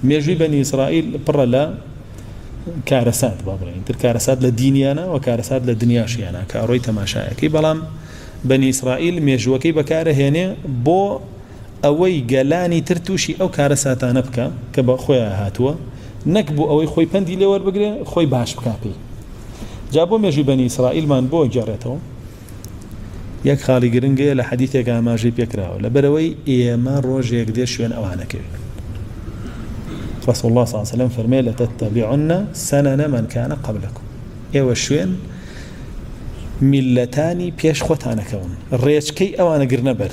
مێژووی بەنی ئیسرائیل پڕە لە کارەسات با بڵێن تر کارەسات لە دینیانە و کارەسات لە دنیاشیانە کە ئەڕۆی تەماشایەکەی بەڵام بەنی ئیسرائیل مێژووەکەی بەکارە هێنێ بۆ ئەوەی گەلانی تر تووشی ئەو کارەساتانە بکە کە بە خۆیان هاتووە نەک بۆ ئەوەی خۆی پەندی لێوەربگرێ خۆی باش بکاپی جا بۆ مێژوی بەنی ئیسرائیلمان بۆ گێڕێتەوە یەک خاڵی گرنگ هەیە لە حەدیثێکا ئاماژەی پێکراوە لەبەرەوەی ئێمە ڕۆژێک دێ شوێن ئەوانەکەوێت رسول الله صلی الله عليه وسلم فرمي لتتبعن سنن من كان قبلكم ئێوە شوێن میلەتانی پێش خۆتانەکەون ڕێچکەی ئەوانە گرنە بەر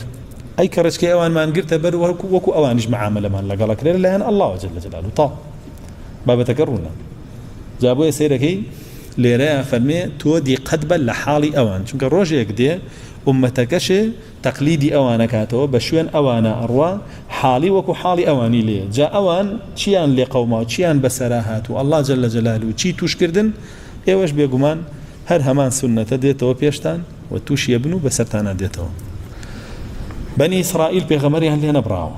ئەی کە ڕێچکەی ئەوانمان گرتە بەر وەکو وەکو ئەوانش معاملەمان لەگەڵەکرێت لایەن الله وجل جلاله تا بابەتەکە ڕوونە جا بۆیە سەیرەکەی لێرەیا فەرمێ تۆ دیقەت بە لە حاڵی ئەوان چونکە ڕۆژێک دێ ئوممەتەکەشێ تەقلیدی ئەوانەکاتەوە بە شوێن ئەوانا ئەڕوا حاڵی وەکو حاڵی ئەوانی لێ جا ئەوان چیان لێ قەوماو چیان بەسەرا هات و اللە جل جلالە چی توش کردن ئێوەش بێگومان هەر هەمان سوننەتە دێتەوە پێشتان و توشی ئەبن و بەسەرتانا دێتەوە بەنی ئیسرائیل پێغەمەریان لێ نەبڕاوە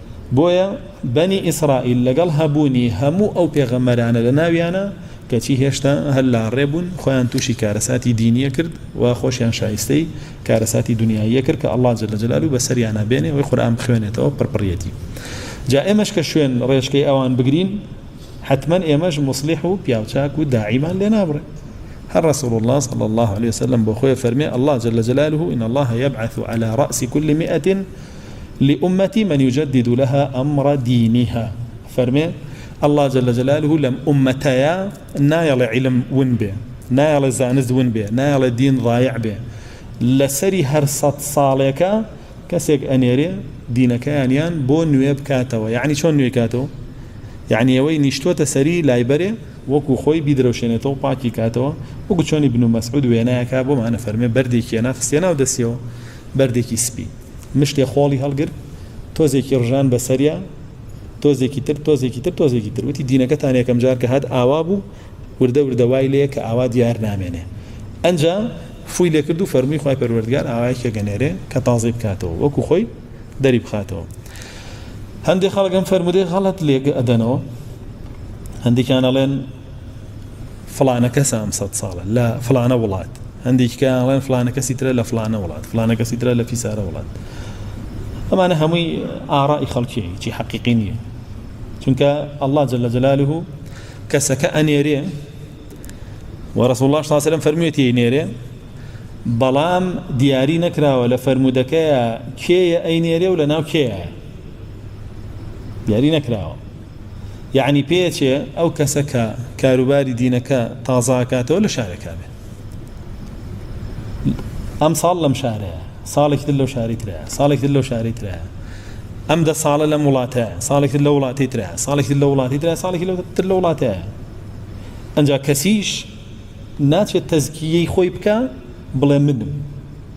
بۆیە بەنی ئیسرائیل لەگەڵ هەبوونی هەموو ئەو پێغەمبەرانە لە ناویانە کەچی هێشتا هەر لە ڕێ بوون خۆیان تووشی کارەساتی دینیە کرد و خۆشیان شایستەی کارەساتی دنیاییە کرد کە اللە جل جلالو بەسەریانا بێنێ وەی قورئان بخوێنێتەوە پڕپڕیەتی جا ئێمەش کە شوێن ڕێشکەی ئەوان بگرین حتمما ئێمەش مصلح و پیاوچاک و داعیمان لێ نابڕێ هەر رسول الله صلى الله عليه وسلم بۆ خۆی فەرمێ الله جل جلاله إن الله يبعث على رأس كل مئة لامتی من یجدد لها امر دینها فەرمێ اللە جل جلالە لەم ئومەتەیا نایەڵێ عیلم ون بێ نایەڵێ زانست ون بێ نایەڵێ دین ڕایع بێ لەسەری هەر سەد ساڵێکە کەسێک ئەنێرێ دینەکەیانیان بۆ نوێ بکاتەوە یعنی چۆن نوێ کاتەوە یعنی ئەوەی نیشتۆتە سەری لایبەرێ وەکو خۆی بیدرەوشێنێتەوە پاکی کاتەوە وەکو چۆنی بن و مەسعود وێنایەکە بۆ مانە فەرمێ بەردێکیە ناخستێ ناو دەسیەوە بەردێکی سپی مشتێ خۆڵی هەڵگرت، تۆزێکی ڕژان بەسەریا، تۆزێکی تر، تۆزێکی تر، تۆزێکی تر، وتی، دینەکەتان یەکەمجار کە هات ئاوا بوو، وردە وردە وای لێیە کە ئاوا دیار نامێنێ. ئەنجا فووی لێ کرد و فەرمووی خوای پەروەردگار ئاوایەکی ئەگەنێرێ کە تازەی بکاتەوە، وەکوو خۆی دەری بخاتەوە. هەندێ خەڵک ئەم فەرموودەی غەڵەت لێک ئەدەنەوە، هەندێکیان ئەڵێن، فڵانە کەسە ئەم سەد ساڵە لە فڵانە وڵات هەندێکی کەڵێن فلانە کەسی ترە لە فلانە وڵات فلانە کەسی ترە لە فیسارە وڵات ئەمانە هەمووی ئاڕای خەڵکی چی حەقیقی نییە چونکە ئەلله جل لە جەلالوه کەسەکە ئەنێرێ وەڕسو الله ساسرم فەرموێتی نێرێ بەڵام دیاری نەکراوە لە فەرمودەکەیە کێیە ئەی نێرێ و لە ناو کێیە دیاری نەکراوە یەعنی پێچێ ئەو کەسە کە کاروباری دینەکە تازە ئەکاتەوە لە شارێکا بێ ئەم ساڵ لەم شارەیە ساڵێکی تر لەو شاری ترە ساڵێکی تر لەو شاری ترە ئەم دە ساڵە لەم وڵاتە ساڵێکی تر لە وڵاتی ترە ساڵێکی لە وڵاتی ترە ساڵێکی لە تر لە وڵاتە ئەجا کەسیش ناچێت تەزکیەی خۆی بکە بڵێ منم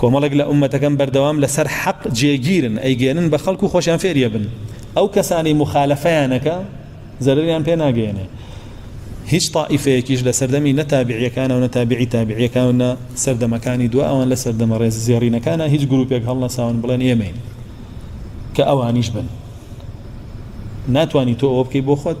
کۆمەڵێک لە ئومەتەکەم بەردەوام لەسەر حەق جێگیرن ئەیگەێنن بە خەڵکو خۆشیان فێریە بن ئەو کەسانی مخالفەیانەکە زەرریان پێ ناگەێنێ هیچ تائیفەیەکیش لە سەردەمی نەتابعیەکانە و نەتابعی تابعیەکان و نە سەردەمەکانی دو ئەوان لە سەردەمە ڕێز زێڕینەکانە هیچ گروپێک هەڵنەساون بڵێن ئێمەین کە ئەوانیش بن ناتانی تۆ ئەوە بکەی بۆ خۆت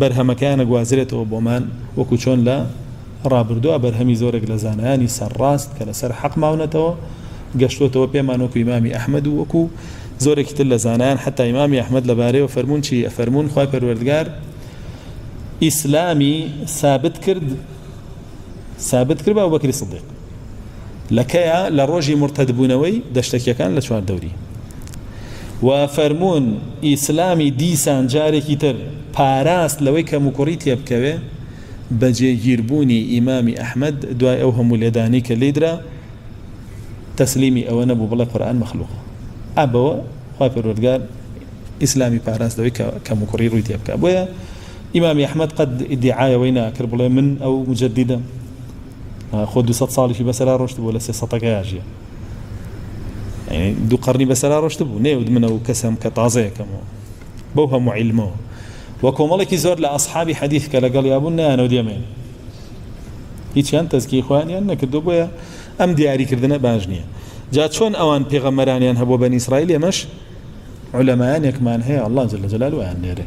بەرهەمەکەیان ئەگوازرێتەوە بۆمان، وەکو چۆن لە ڕابردووا بەرهەمی زۆرێک لە زانایانی سەرڕاست کە لەسەر حەق ماونەتەوە گەشتووەتەوە پێمان وەکو ئیمامی ئەحمەد و وەکو زۆرێکی تر لە زانایان حەتا ئیمامی ئەحمەد لەبارەیەوە فەرموون چی ئەفەرموون خوای پەروەردگار ئیسلامی سابت کرد سابت کرد بە ئەبوبەکری سدیق لە کەیە لە ڕۆژی مرتدبوونەوەی دەشتەکیەکان لە چوار دەوری و فەرمونون ئیسلامی دیسان جارێکی تر پاراست لەوەی کەم و کوڕی تێبکەوێ بە جێگیربوونی ئیمامی ئەحمد دوای ئەو هەموو لێدانی کە لیدرا تەسلیمی ئەوە نەبوو بڵێ قورآن مەخلوق ئەبەوە خوا پەروەردگار ئیسلامی پاراست لەوەی کەم و کوڕی ڕووی تێبکە بۆیە ئیمامی ئەحمەد قەت ئیدیعای ئەوەی ناکرد بڵێ من ئەو موجەددیدەم، خۆ دوو سەد ساڵیشی بەسەرا ڕۆشتبوو لە سێ سەتەکە یاژیە یعنی دوو قەرنی بەسەرا ڕۆشتبوو نەیوت من ئەو کەسەم کە تازەیەکەمەوە بەو هەموو عیلمەوە و کۆمەڵێکی زۆر لە ئەسحابی حەدیث کە لەگەڵ یابوون نایانەوە دێمێن هیچیان تەزکی خۆیانیان نەکردو بۆیە ئەم دیاریکردنە باش نییە جا چۆن ئەوان پێغەمەرانیان هەبوو بەنی ئیسرائیل ئێمەش علەمایانێکمان هەیە الله جل جلاله وایان نێرێ